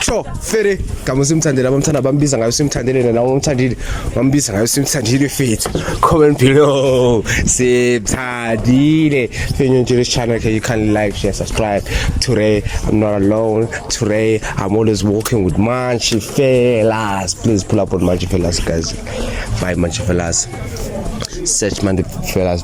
sure fere gama simthandile abamthanda abambiza ngayo simthandile nena umthandile bambiza ngayo simthandile fethu comment below simthandile fenyo nje this channel can you kindly like share subscribe today i'm not alone today i'm always walking with manchi fellas please pull up on manchi fellas guys bye manchi fellas search manchi fellas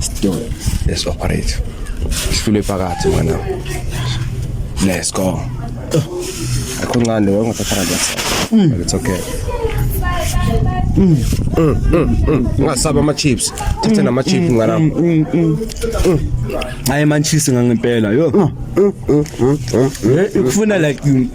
Stone. Let's operate. Sifule phakathi mwana. Let's go. Akho ncane wewe ngathatha kanti. Mm. It's okay. Mm. Mm. Mm. mm. Ngasaba ama chips. Thatha mm. nama chips mm. ngana. Mm. Mm. Hayi man cheese ngangempela yo. Mm. Mm. Mm. Mm. Ufuna like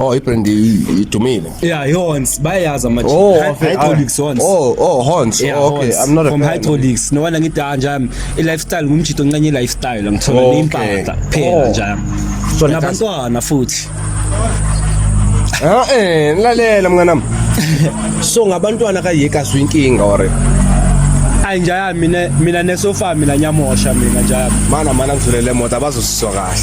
Oh, ibrand idumile. Yeah, Horns. Bayazi ama oh, hydraulics ah, Horns. Oh, oh, Horns. Yeah, oh, okay. Horns. I'm not a From fan. hydraulics. No wala ngithi ah, nje i lifestyle ngumjito nqenye i lifestyle ngithola oh, impahla phela oh. nje. So nabantwana futhi. Ah eh, lalela mnganami. So ngabantwana kayeka zwi inkinga or hayi njaya mina mina nesofa mina nyamosha mina njaya mana mana ngizulele moto abazosizwa kahle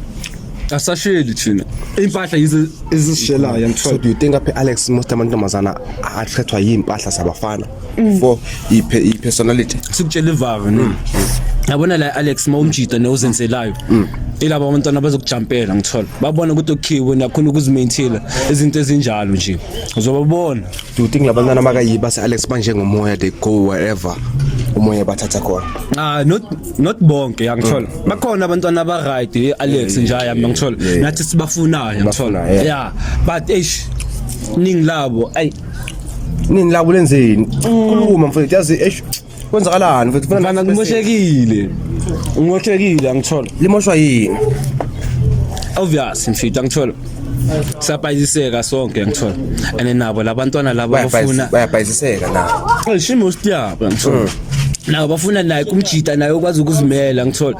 asasheli thina impahla yizi ezisishelayo so ngithola do you think apha alex most amantombazana athethwa yimpahla zabafana for iphe i-personality sikutshela ivaka no yabona la Alex mawumjida newuzenzelayo ilaba abantwana abazokujampela ngithola babona ukuthi okhiwe nakhona ukuzimaintaina izinto ezinjalo nje uzobabona do you think labantwana makayiba se-alex banjengomoya they go wherever umoya bathatha khona ah not not bonke yangithola mm. bakhona abantwana aba right eh, Alex nje yami ngithola nathi sibafunayo ngithola yeah but eish ningi labo ay nini labo lenzeni kuluma mfethu yazi eish kwenzakalani mfethu funa mfana ngimoshekile ngimoshekile angithola limoshwa yini obvious mfethu angithola sapayiseka sonke ngithola and nabo labantwana laba bafuna bayabhayisiseka na shimo siyaba ngithola mm. nawo bafuna naye kumjita naye okwazi ukuzimela ngithola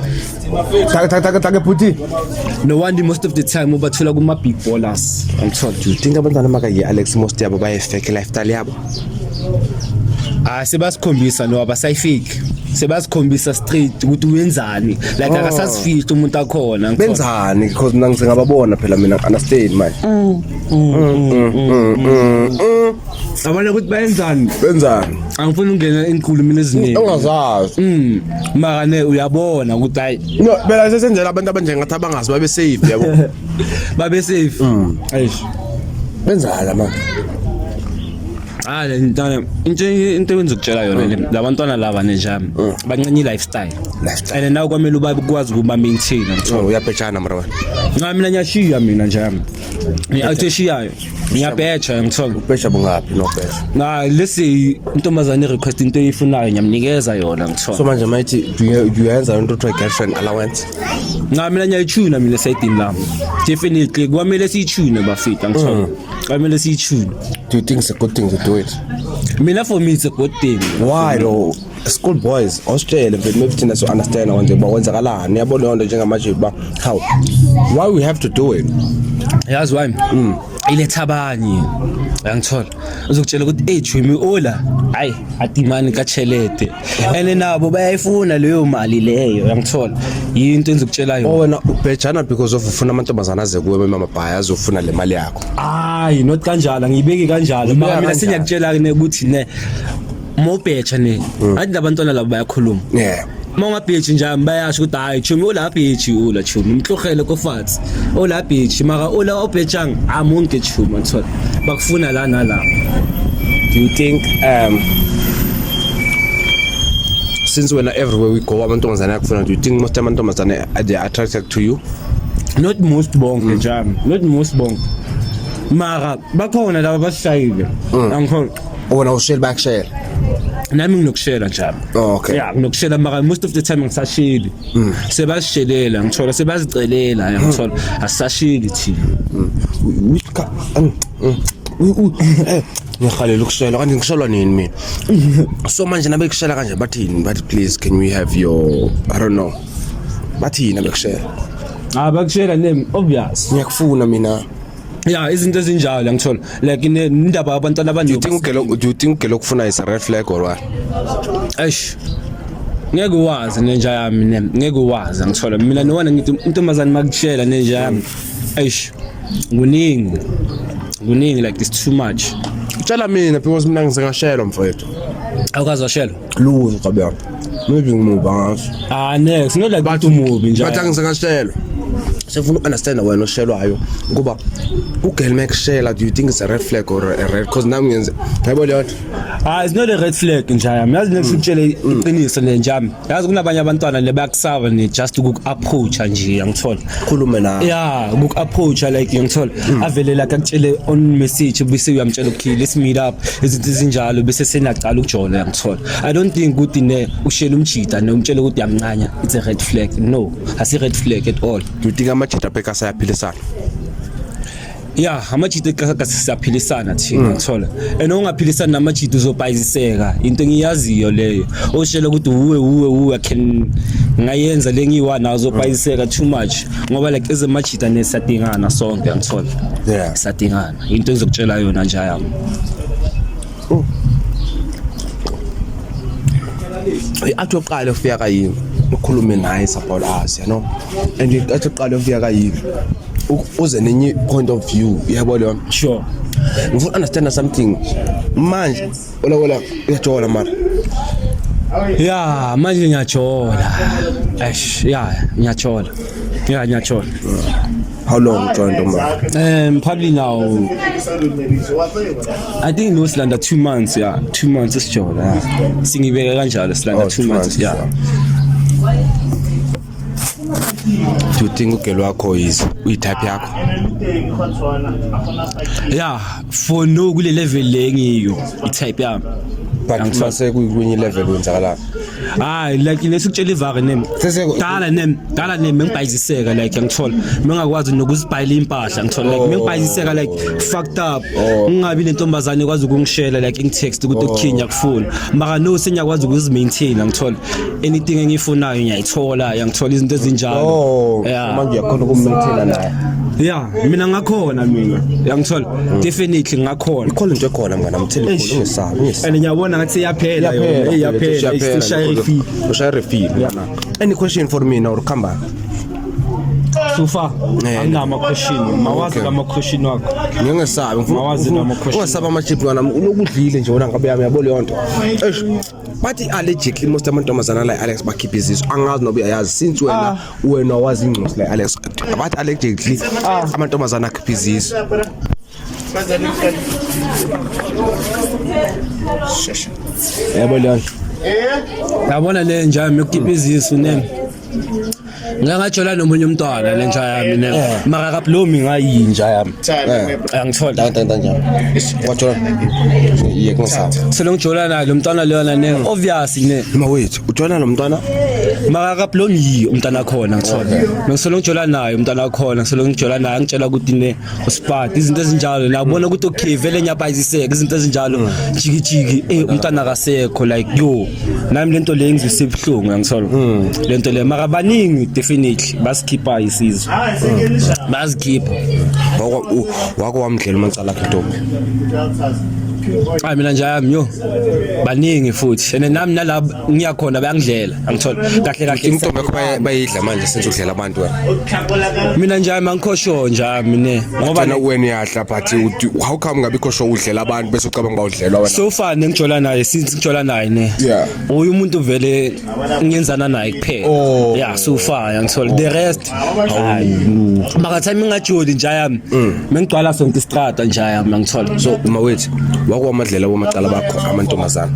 taka taka taka taka bhuti no wonder most of the time ubathola kuma big ballers ngithola do you think abantwana makaye Alex most yabo baye fake lifestyle yabo ah sebasikhombisa no abasayifiki sebasikhombisa straight ukuthi wenzani like oh. akasasifihli umuntu akhona benzani because mina ngisengababona phela mina understand manje mm. Mm. Mm. abona ukuthi bayenzani benzani angifuni ungena enkulumini eziningi ungazazi mm maka ne uyabona ukuthi hayi no phela sesenzela abantu abanjengathi abangazi babe safe yabo babe safe mm eish benzani la manje Ah le ntana into into wenza ukutshela yona le labantwana laba ne jam bancane i lifestyle Lifestyle. and nawe kwamele uba ukwazi ukuba maintain Oh, uyabhejana mara wena Nca mina ngiyashiya mina njami. Ngiyashiyayo. ngiyabheja ngithola ubheja bungaphi nobheja na lesi intombazane request into eyifunayo ngiyamnikeza yona ngithola so manje mayithi uyenza into kuthiwa girlfriend allowance nca mina ngiyayitshuna mina sayidini lami definitely kwamele siyitshune bafita ngithola mm. kwamele siyitshune do you think it's a good thing to do it mina for me it's a good thing why though school boys ositshele mfethu maybe thina so understand konje uba kwenzakalani yabo leyo nto njengamanje uba how why we have to do it yazi why mm. iletha abanye uyangithola uzokutshela ukuthi eyi jumi ola hayi adimani kachelete and nabo bayayifuna leyo mali leyo uyangithola yinto enzokutshela yona oh, wena ubhejana because of ufuna amantombazana aze kuwe bemamabhaya azofuna le mali yakho hayi not kanjalo angiyibeki kanjalo mina sengiyakutshela-ke ukuthi ne uma ubheja ne hmm. athi labantwana labo bayakhuluma yeah uma ungabheji njani bayasho ukuthi hayi chumi ula bheji ula chumi mhlohele kofatsi ula bheji maka ula obhejang amunge chumi ngithola bakufuna la nala do you think um since wena everywhere we go amantombazane akufuna do you think most amantombazane they are attracted to you not most bonke hmm. njani not most bonke mara bakhona laba basishayile mm. angikholwa Wena ushela bakushela. Nami nginokushela nje. Okay. Yeah, nginokushela maka most of the time ngisashili. Mm. Sebashelela ngithola sebazicelela mm. ngithola asashili thina. Mm. Eh, ngihalela ukushela kanti ngishelwa nini mina so manje nabekushela kanje bathini bathi please can we have your i don't know bathini abekushela ah bakushela name obvious ngiyakufuna mina ya izinto ezinjalo angithola like indaba yabantwana abaningi udinga ugelo udinga ugelo ukufuna is a red flag or what eish ngeke wazi nenja yami ne ngeke wazi angithola mina nowana ngithi intombazane makutshela nenja yami eish kuningi kuningi like it's too much tshela mina because mina ngisengashelo mfowethu awukazi washelwa lutho kabe Maybe ngimuva ngaso. Ah next, not like But- umuntu umubi nje. Bathi angisakashelwa. Sefuna ukunderstanda wena oshelwayo ukuba ugirl mekushela do you think it's a red flag or a red cause nami ngenze yabo leyo nto. Ah it's not a red flag nje yami. Yazi next ukutshele iqiniso nje yami. Yazi kunabanye abantwana le bakusaba ne just uku approach nje angithola. khulume nawe yeah kuk approach like ngiyangithola hmm. avelela akutshele on message bese uyamtshela okay let's meet up izinto ezinjalo bese senaqala ukujola uyangithola i don't think ukuthi ne ushela umjita ne umtshela ukuthi uyamncanya it's a red flag no asi red flag at all do you think amajita bheka sayaphilisana ya amajita eqhaka sisaphilisana thina mm. thola and ongaphilisani namajita uzobhayiziseka into engiyaziyo leyo oshela ukuthi uwe uwe uwe can ngayenza lengiwa nazo uzobhayiziseka too much ngoba like ezemajita nesadingana sonke ngithola yeah sadingana into engizokutshela yona nje yami oh. athi uqale ufika kayini ukhulume naye sabhola asi yano and athi uqale ufika kayini uze nenye point of view yabo leyo sure ngifuna understand something manje ola ola uyajola mara ya manje ngiyajola eish ya ngiyajola ya ngiyajola how long joined Omar? Um, probably now. I think no Slanda two months, yeah, two months is job. Yeah. Singibeka kanjalo Slanda oh, two, two months, months, yeah. yeah. Do you think ugelo wakho is uyitype yakho? Yeah, for no kule level le ngiyo itype yami. But uma sekuyinye level wenzakala. Hayi like lesikutshela ivaka name. Dala name, dala name ngibhayiziseka like ngithola. Mengakwazi nokuzibhayila impahla ngithola like mengibhayiziseka like fucked up. Oh. Ngingabi nentombazane kwazi ukungishela like in text ukuthi oh. ukukhinya kufuna. Maka no senyakwazi ukuzimaintain ngithola. anything engiyifunayo ngiyayithola yangithola izinto ezinjalo oh Yeah. manje uyakhona ukumethela naye ya mina ngakhona mina yangithola definitely ngakhona ikhona into ekhona mngana mthele Eish. khona ungesabi ungesabi and ngiyabona ngathi iyaphela yona Eh, iyaphela isishaya ifi ushaya refill any question for me now ukhamba sufa Eh. anginama question mawazi Okay. kama question wakho ngingesabi Mawazi noma question. ungesabi ama chip mngana unokudlile nje wona ngabe yami yabo leyo nto eish but i-allegedly most amantombazana la alex bakhiphe izizo angazi noba uyayazi since wena ah. wena wazi ingcosi la alex but allegedly ah. amantombazana akhiphe izizo yabo leyo yabona le njalo mekukhipha izisu nemi ngike ngajola nomunye umntwana le nja yami ne eh. maka kablomi ngayinja yami eh. angithola ntanto ntanjani wajola iye kungisapha selongijola naye lo mntwana leyona ne hmm. obvious ne ma wethu ujola lo mntwana maka kablomi yiyo umntwana khona ngithola ngisolo ngijola naye umntwana khona ngisolo ngijola naye angitshela ukuthi ne usipati izinto ezinjalo la ubona ukuthi okay vele ngiyabayiziseka izinto ezinjalo mm. jiki jiki eh umntana akasekho like yo nami lento le ngizwise ibuhlungu yangisola mm. lento le mara baningi definitely basikhipha isizwe ah, mm. bazikhipha wako wako wamdlela umacala akhe ntombi hayi mina nje ayami yo baningi futhi and nami nalabo ngiyakhona bayangidlela angithola kahle kahle intombi yakho bayidla manje senze udlela abantu wena mina njalo mangikhosho njalo mina ngoba na wena uyadla but how come ngabe ikhosho udlela abantu bese ucabanga bawudlelwa wena so far nengijola naye since ngijola naye ne uyu umuntu vele ngiyenzana naye kuphela oh. yeah so far angithola the rest right makathi mina ngajoli nja yami mengigcwala sonke istrata nja yami angithola so uma wethu wakuwamadlela wamacala bakho amantombazana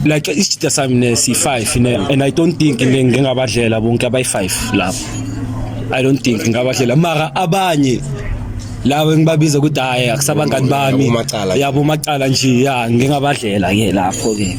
like isijida sami nesi-five ne and i don't think ne- ngingabadlela bonke abayi-five lapho i don't think ngingabadlela mara abanye labo engibabiza ukuthi hhayi akusabangani bami Yabomacala. yabomacala nje ya ngingabadlela-ke lapho-ke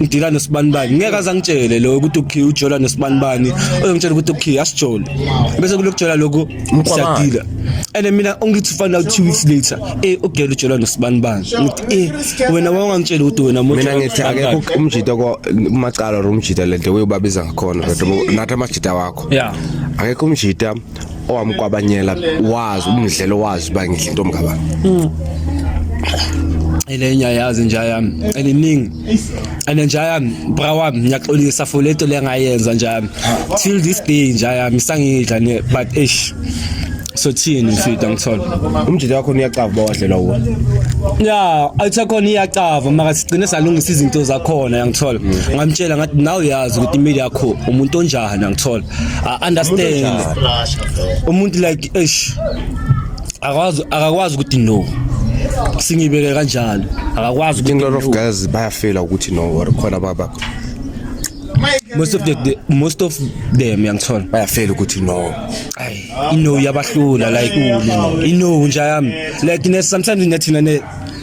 ngidila nosibanibani ngeke aze angitshele lo ukuthi ukhiya ujola nosibanibani ozongitshela ukuthi ukhiya asijole bese kulokujola lokhu siyadila and mina ongithi find out two weeks later eh ugela ujola nosibanibani ngithi eh wena wawungangitshela ukuthi wena muntu mina ngithi akekho umjita ko umacala or umjita lento uyobabiza ngakhona kodwa nathi amajita wakho yeah akekho umjita owamkwabanyela wazi umdlelo wazi uba ngidla intombi kabani mm. elenye ayazi inja yami eliningi and inja yami bra wami ngiyaxolisa for lento le ngayenza inja yami till this day inja yami sangidla ne but eish so thini mfida ngithola umjita wakho uyacava bawadlela uwo ya ayisakhona iyacava maka sigcine salungisa izinto zakhona yangithola ngamtshela ngathi nawe uyazi ukuthi imili yakho umuntu onjani yangithola I understand umuntu like eish akwazi akakwazi ukuthi no singibeke kanjalo akakwazi ukuthi no guys bayafela ukuthi no or khona baba most of the, the most of them yangithola bayafela ukuthi no ay ino yabahlula like ino nje yami like sometimes ngathina ne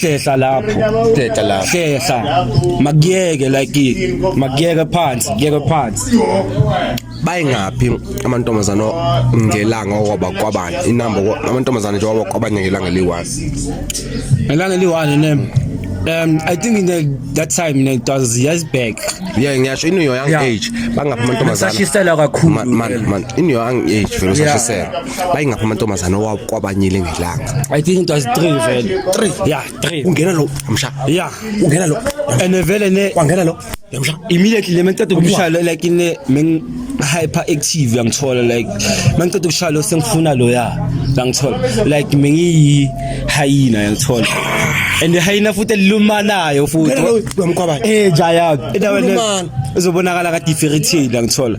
hlehla lapho hlehla lapho hlehla makuyeke like makuyeke phansi kuyeke phansi bayingaphi amantombazana ngelanga okwaba kwabani inamba amantombazana nje waba kwabanye ngelanga eliyi-1 ngelanga eliyi-1 ne Um, I think in the, that time in it was years back. Yeah, ngiyasho in your young yeah. age bangaphi amantombazana. Sashisela kakhulu. Man man in your young age vele usashisela. bayingapha amantombazane owakwabanyile ngelanga i think it was 3 vele 3 yeah 3 ungena lo amsha yeah ungena lo and vele ne kwangena lo yamsha immediately le mengiceda ukumshaya like ine meng hyper active yangithola like mangiceda ukushaya lo sengifuna lo ya ngangithola like mengiyi hyena yangithola and hyena futhi elilumanayo futhi uyamqwabana eh jaya endaweni uzobonakala ka differentiate ngithola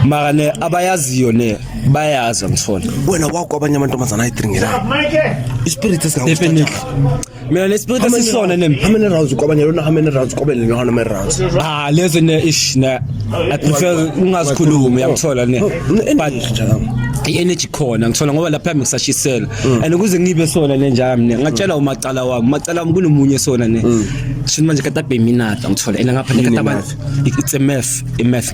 mara ne abayaziyo ne bayazi angithole wena wakho abanye amantombazana ayidringela ispirit esingakuthatha mina nespirit esisona nem how many rounds kwabanye lona how many rounds kwabe lena how many rounds ah lezi ne ish na i prefer ungazikhulumi uyamthola ne but i-energy khona ngithola ngoba lapha yami ngisashisela mm. and ukuze ngibe sona le njalo mina ngatshela mm. umacala wami umacala wami kunomunye sona ne mm. shini manje kata beminata ngithola ena ngapha kata it's a math a math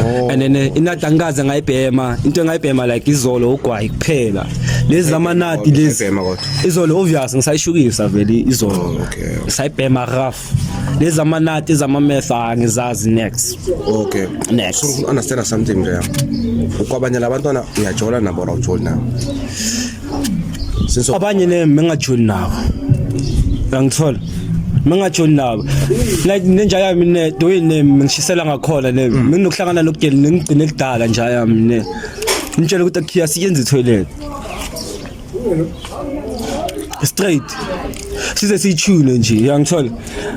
Oh. and then eh, inadi angikaze ngayibhema into engayibhema like izolo ugwayi kuphela lezi zamanadi lezi Ngayibhema kodwa. izolo obvious ngisayishukisa vele izolo Oh, okay, okay. sayibhema rough lezi zamanadi ezamameth angizazi next okay Next. so ngifuna understand something nje ukwabanye labantwana uyajola nabo or awujoli nabo Since abanye ne mengajoli nabo. Angithola. Mengajoli nabo. Like nenja yami ne the way ne ngishisela ngakhona ne mm. nginokuhlangana nokugeli ngigcine kudala nja yami ne. Ngitshela ukuthi akhiya siyenze toilet. Straight. size siyitshune nje uyangithola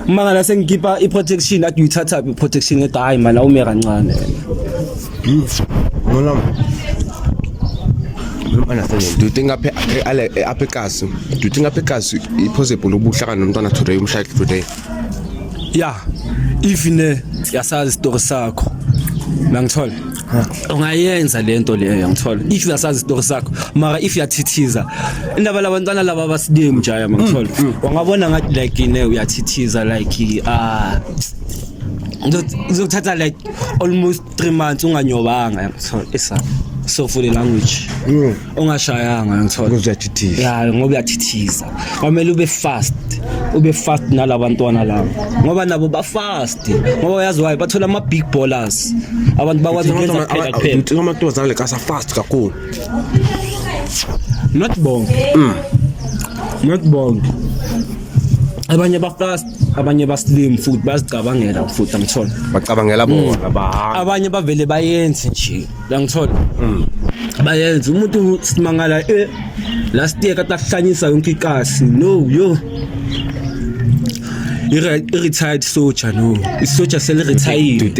uma ngala sengikhipha i-protection athi uyithathaphi i-protection ethi hhayi mani awume kancane Beans. No, no. Do you think aphe ale aphe kasi? Do you think aphe kasi i possible ubuhlaka nomntwana today umshaya today? Yeah. If ne yasazi story sakho. Mangithola. ungayenza lento leyo ngithola if uyasazi isitori sakho mara if uyathithiza indaba labantwana laba basidemu njaya mangithola mm, mm. wangabona ngathi like ne uyathithiza like ah kuzokuthatha like almost three months unganyobanga yangithola isa so for the language mm. ungashayanga ngithola kuzoyathithiza ya ngoba uyathithiza kwamele ube fast ube fast nalabantwana labo ngoba nabo ba fast ngoba uyazi why bathola ama big ballers abantu bakwazi ukwenza kuphela kuphela uthi noma kutozana le kasa fast kakhulu not bonke mm. not bonke abanye ba fast abanye basilimu futhi bazicabangela futhi angithola bacabangela mm. bona bahamba abanye bavele bayenze nje angithola mm. bayenze umuntu simangala eh last year kade ahlanyisa yonke ikasi no yo i-retired soldier no isoja seli-retired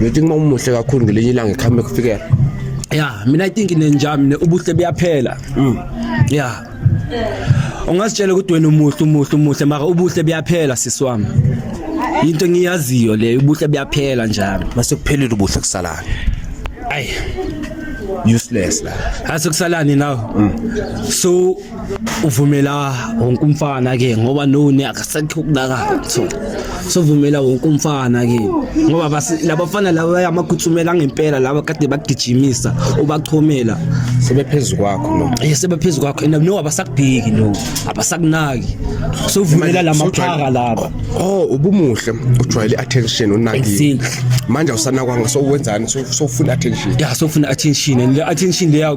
You think mawumuhle kakhulu ngelinye ilanga ikhambe kufikela. Yeah, mina I think nenjami ne ubuhle buyaphela. Mm. Yeah. Ungasitshela ukuthi wena umuhle umuhle umuhle mara ubuhle buyaphela sisi wami. Into engiyaziyo le ubuhle buyaphela njalo. Mase kuphelile ubuhle kusalana. Ay. Useless la. Hase kusalani now? Mm. So uvumela wonke umfana ke ngoba noni akasekho ukunakala so sovumela wonke umfana ke ngoba labafana laba yamagutsumela ngempela laba kade bagijimisa ubachomela sebephezulu kwakho no eh sebephezulu kwakho and no abasakubheki no abasakunaki sovumela lamaphaka laba oh ubumuhle ujwayele attention unaki manje awusanakwa ngaso wenzani sofuna attention yeah sofuna attention and attention leya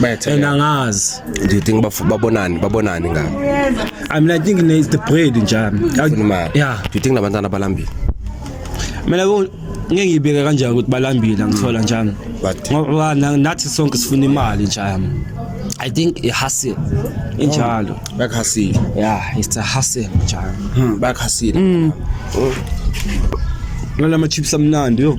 Better. And angazi. Do you think baf- babonani babonani ngabo? I mean I think it's the bread nje. Funa imali. Yeah. Do you think labantwana balambile? Mina bo ngeke ngibeke kanjani ukuthi balambile ngithola njani. But- Ngoba na- nathi sonke sifuna imali njani. I think a hustle injalo. Bakhasile. Yeah, it's a hustle njalo. Hmm, bakhasile. Lala ama chips amnandi yo.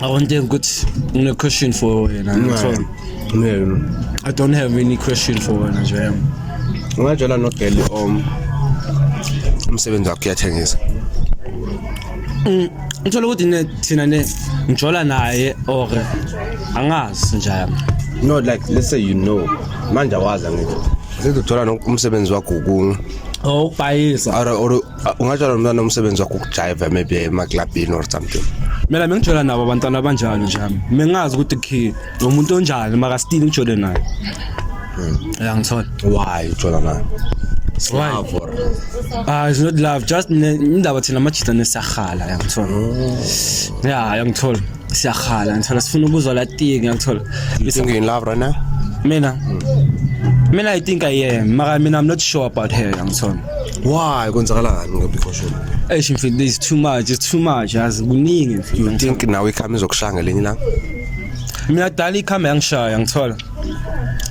I want them good you know, question for her, you know, yeah. so, yeah. I don't have any question for her nje yami. Ungatshela no girl um umsebenzi wakhe uyathengisa. Mm, ngithola ukuthi ne thina ne ngijola naye or angazi nje yami. No like let's say you know manje awazi angithi. Sekujola nomsebenzi wakho kungu. Oh, bayisa. Or or Ah, ungatshala mntwana umsebenzi wakho ukujayiva maybe emaklabhini or something mina bengijwela nabo abantwana abanjalo nje ami mengazi ukuthi khe lo muntu onjani makasitile ngijwele naye hmm. ya ngithola why ujwela naye Why? Ah, it's not love, just ne- indaba thina amajita nesiyarhala yangithola. Hmm. Yeah, yangithola. siyakhala ngithola sifuna ukuzwa la thing ngithola you think you in love right now mina mina i think i am mara mina i'm not sure about her ngithola why kwenzakalani ngobikhoshela eish mfethu there's too much it's too much yazi kuningi mfethu you think nawe ikhama izokushaya ngelinye ilanga mina dala ikhama yangishaya ngithola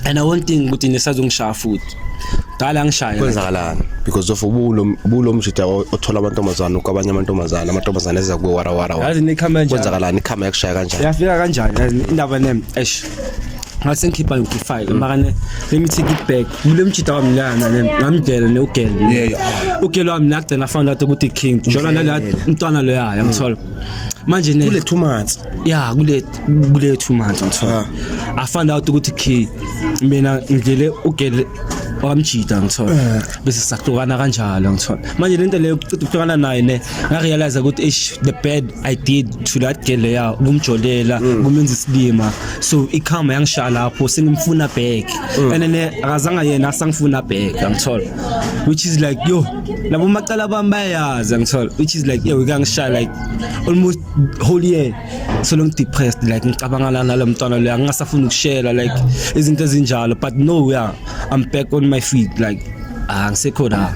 and i won't think ukuthi nisazongishaya futhi dala ngishaya kwenzakalani because of ubulo mjida othola amantombazana ukwabanye amantombazana amantombazana eza kuwe wara wara yazi nikhama njani kwenzakalani ikhama yakushaya kanjani yafika kanjani yazi indaba nem eish ngase ngikhipha ngifike makane let me take it back mule mjida wami la nale ngamdela ne ugel ugel wami nagcina found out ukuthi king njola nala mntwana lo yaya ngithola manje ne kule 2 months yeah kule kule two months ngithola i found out ukuthi key mina ngidlele ugele wamjida ngithola eh. bese sahlukana kanjalo ngithola manje lento leyo kucitha ukuhlukana naye ne ngarealize ukuthi ish the bad i did to that girl leya ukumjolela mm. kumenza isilima so ikhama yangishaya lapho sengimfuna back mm. and ne akazanga yena asangifuna back ngithola which is like yo labo macala bami bayazi ngithola which is like yo ikangishaya like almost whole year solo ngidepressed like ngicabangana nalo mntwana lo angingasafuni ukushela like izinto ezinjalo but no yeah i'm back on my feet like ah ngisekho la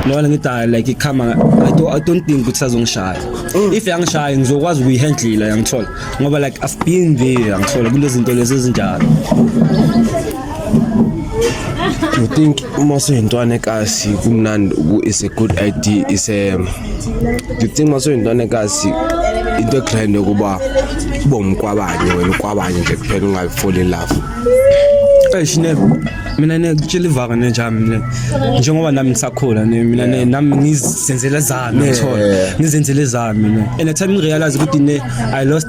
nona ngithi hayi like ikhama I don't, I don't think ukuthi sazongishaya mm. if yangishaya ngizokwazi ukuyihandlela yangithola ngoba like I've been there yangithola kulezinto lezi ezinjalo you think uma soyintwana ekasi kumnandi is a good idea is a you think uma soyintwana ekasi into egrand yokuba ube umkwabanye wena ukwabanye nje kuphela ungayifoli in love eish ne mina nekutshela ivaka ne njami mina njengoba nami ngisakhula ne mina ne nami ngizenzele zami ngithola ngizenzele zami ne and i time realize ukuthi ne i lost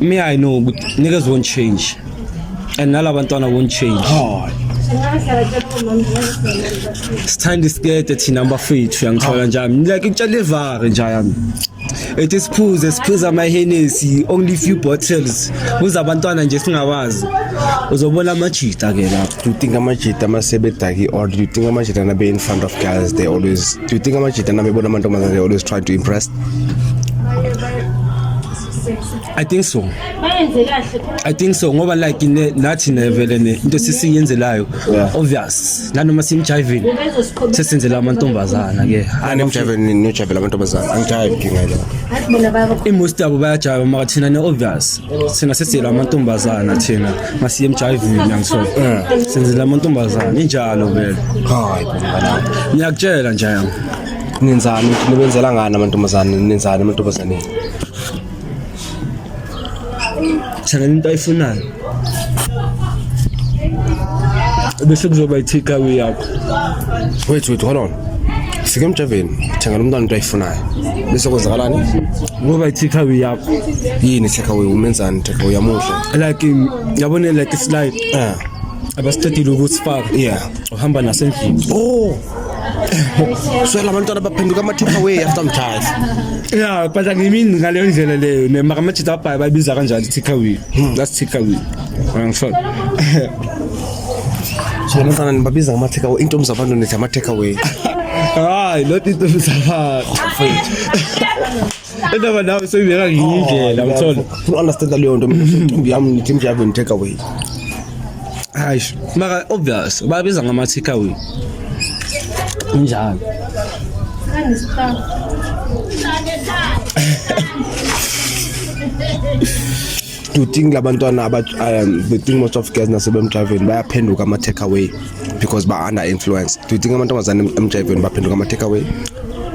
Me I know ukuthi niggas won't change and nalabantwana won't change. Hayi. Sithanda isikete thina bafethu yangithola njani. Ngilike ukutshela ivare nje yami. Ethi siphuze siphuza ama Hennessy only few bottles. Kuza abantwana nje singabazi. Uzobona amajita ke lapho. Do you think amajita ama sebedaki or do you think amajita na be in front of girls they always do you think amajita na bebona amantombazane they always try to impress? I think so. Bayenze kahle. I think so ngoba like ne nathi nevele ne into sisiyenzelayo obvious nanoma simjiving sesenzela amantombazana ke. Ani mjiving ni jivela amantombazana angijive ke ngeke. Athi bona baba. Imost yabo bayajive maka thina ne obvious. Sina sesizela amantombazana thina masiye mjiving ngiyangsho. Senzela amantombazana injalo vele. Hayi bana. Ngiyakutshela nje. Nenzani nibenzela ngani amantombazana nenzani amantombazaneni. Sana into ayifunayo. Bese kuzoba ithika yakho. Wait wait hold on. Sike emjaveni thengela umntwana into ayifunayo. Bese kwenzakalani? Ngoba ithika yakho. Yini ithika we umenzani ithika uyamuhle. Like yabona like it's like. Ah. Abasicedile ukusifaka. Yeah. Uhamba nasendlini. Oh. so la bantwana baphenduka ama-take away after mthatha ya but angimini ngaleyo ndlela leyo nemakamajita abhayi bayibiza kanjani i-take away hmm. that's take away angisho so la bantwana nibabiza ngama-take away intombi zabantu nithi ama-take away hayi loti intombi zabantu Indaba nawe seyibeka ngenye indlela oh, uthola. Futhi understand leyo nto mina imicimbi yami ngithi imjavu and take away. Hayi, maka obvious babiza ngama take away. Kunjalo. Kangisipha. do you think labantwana aba um, do you think most of girls nasebemjiveni bayaphenduka ama take away because ba under influence do you think amantombazane emjiveni baphenduka ama take away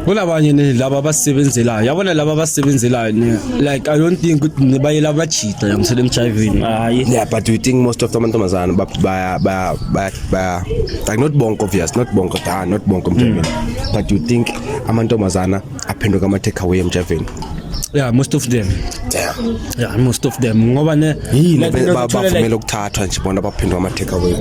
kunabanye ne laba abasebenzelayo yabona laba abasebenzelayo ne like i don't think ukuthi ne bayela abajita yamsele emjiveni hayi yeah but do you think most of amantombazane ba ba ba ba like not bonke obvious not bonke da not bonke emjiveni mm. but do you think amantombazana aphenduka ama take away emjaveni yeah most of them damn yeah most of them ngoba ne yini bavumela ukuthathwa nje bona baphindwa ama take away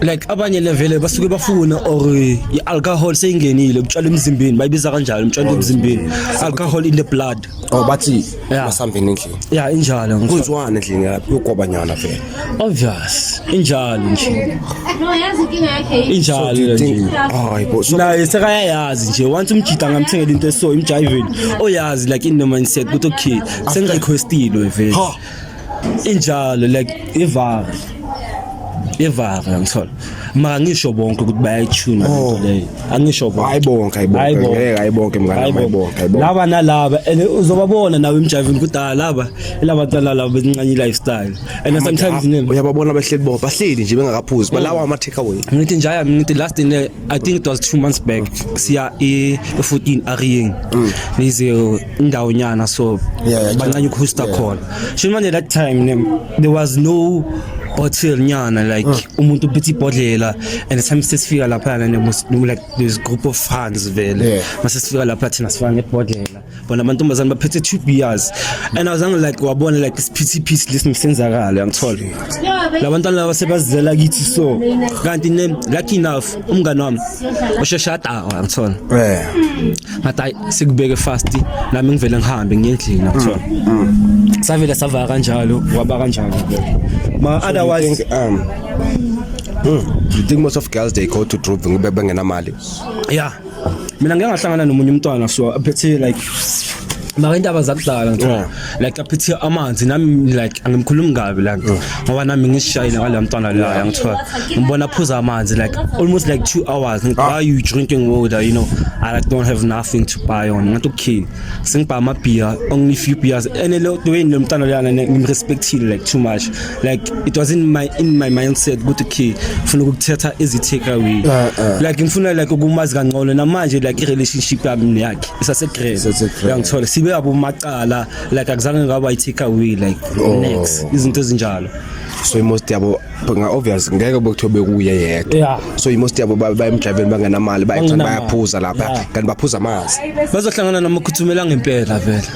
like abanye levele basuke bafuna or i-alcohol seyingenile kutshwala emzimbeni bayibiza kanjalo umtshwala emzimbeni alcohol in the blood oh bathi Yeah. masambeni endlini ya injalo ngifo- kunziwani endlini yakho yogobanyana vele obvious injalo nje No, yazi inkinga yakhe yini? injalo le nje hayi bo so naye sekayayazi nje once umjita angamthengela into eso imjayiveni oyazi like in no mindset ukuthi okay sengirequestilwe vele ha injalo like ivara ivara ngithola maka ngisho bonke ukuthi bayayithuna oh. lento leyo angisho bonke hayi bonke hayi bonke ngeke hayi bonke mngane hayi bonke hayi bonke laba nalaba and uzobabona nawe emjivini ukuthi ah laba ilaba cala laba bezincanye lifestyle and sometimes nini uyababona bahleli bo bahleli nje bengakaphuzi balawa mm. ama take away ngithi njaya ngithi last in i think it was 2 months back siya e 14 ariying mm. nize indawo nyana so Yeah, yeah, bancane ukuhosta yeah. khona sho manje that time ne, there was no bottle nyana like Mm. umuntu uphethe ibhodlela and time sesifika lapha ne was no, like this group of fans vele Yeah. mase sifika lapha thina sifana nebhodlela bona amantombazane baphethe two beers and i was angry like wabona like this pity piece listen senzakala ngithola labantwana laba sebazizela kithi so kanti ne lucky enough umngane wami oshesha adawa ngithola Yeah. ngathi ayi sikubeke fast nami ngivele ngihambe ngiye endlini akuthiwa savele savaka kanjalo waba kanjalo ma otherwise um mm, you think most of girls they go to drop ngoba bengenamali yeah mina ngeke ngahlangana nomunye umntwana so aphethe like maka indaba zakudala ngithola like aphethe amanzi nami like angimkhulumi kabi la mm. ngoba nami ngishayile ngalo mntwana la ngithiwa ngibona phuza amanzi like almost like 2 hours ngithi ah. why you drinking water you know i like don't have nothing to buy on ngathi okay sengibha ama beer only few beers and lo way lo mntwana la ngimrespectile like too much like it was in my in my mindset ukuthi okay ufuna ukuthetha izi take away ah, ah. like ngifuna like ukumazi kangcono namanje like i relationship yami yakhe isase grand yangithola sibe abo qala like akuzange ngaba i take away like oh. next izinto ezinjalo so imost yabo nga obvious ngeke bekuthiwe bekuye yedwa yeah. so imost yabo bayemdriveni bangenamali bayacanga bayaphuza lapha yeah. kanti baphuza amanzi bazohlangana noma ukhuthumela ngempela vele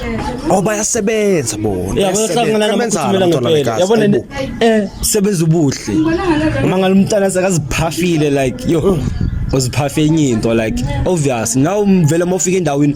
oh bayasebenza bona yeah bazohlangana noma ukhuthumela ngempela yabona eh sebenza ubuhle uma ngalumntana sakaziphafile like yo uziphafe enye into like obvious now vele mofika endaweni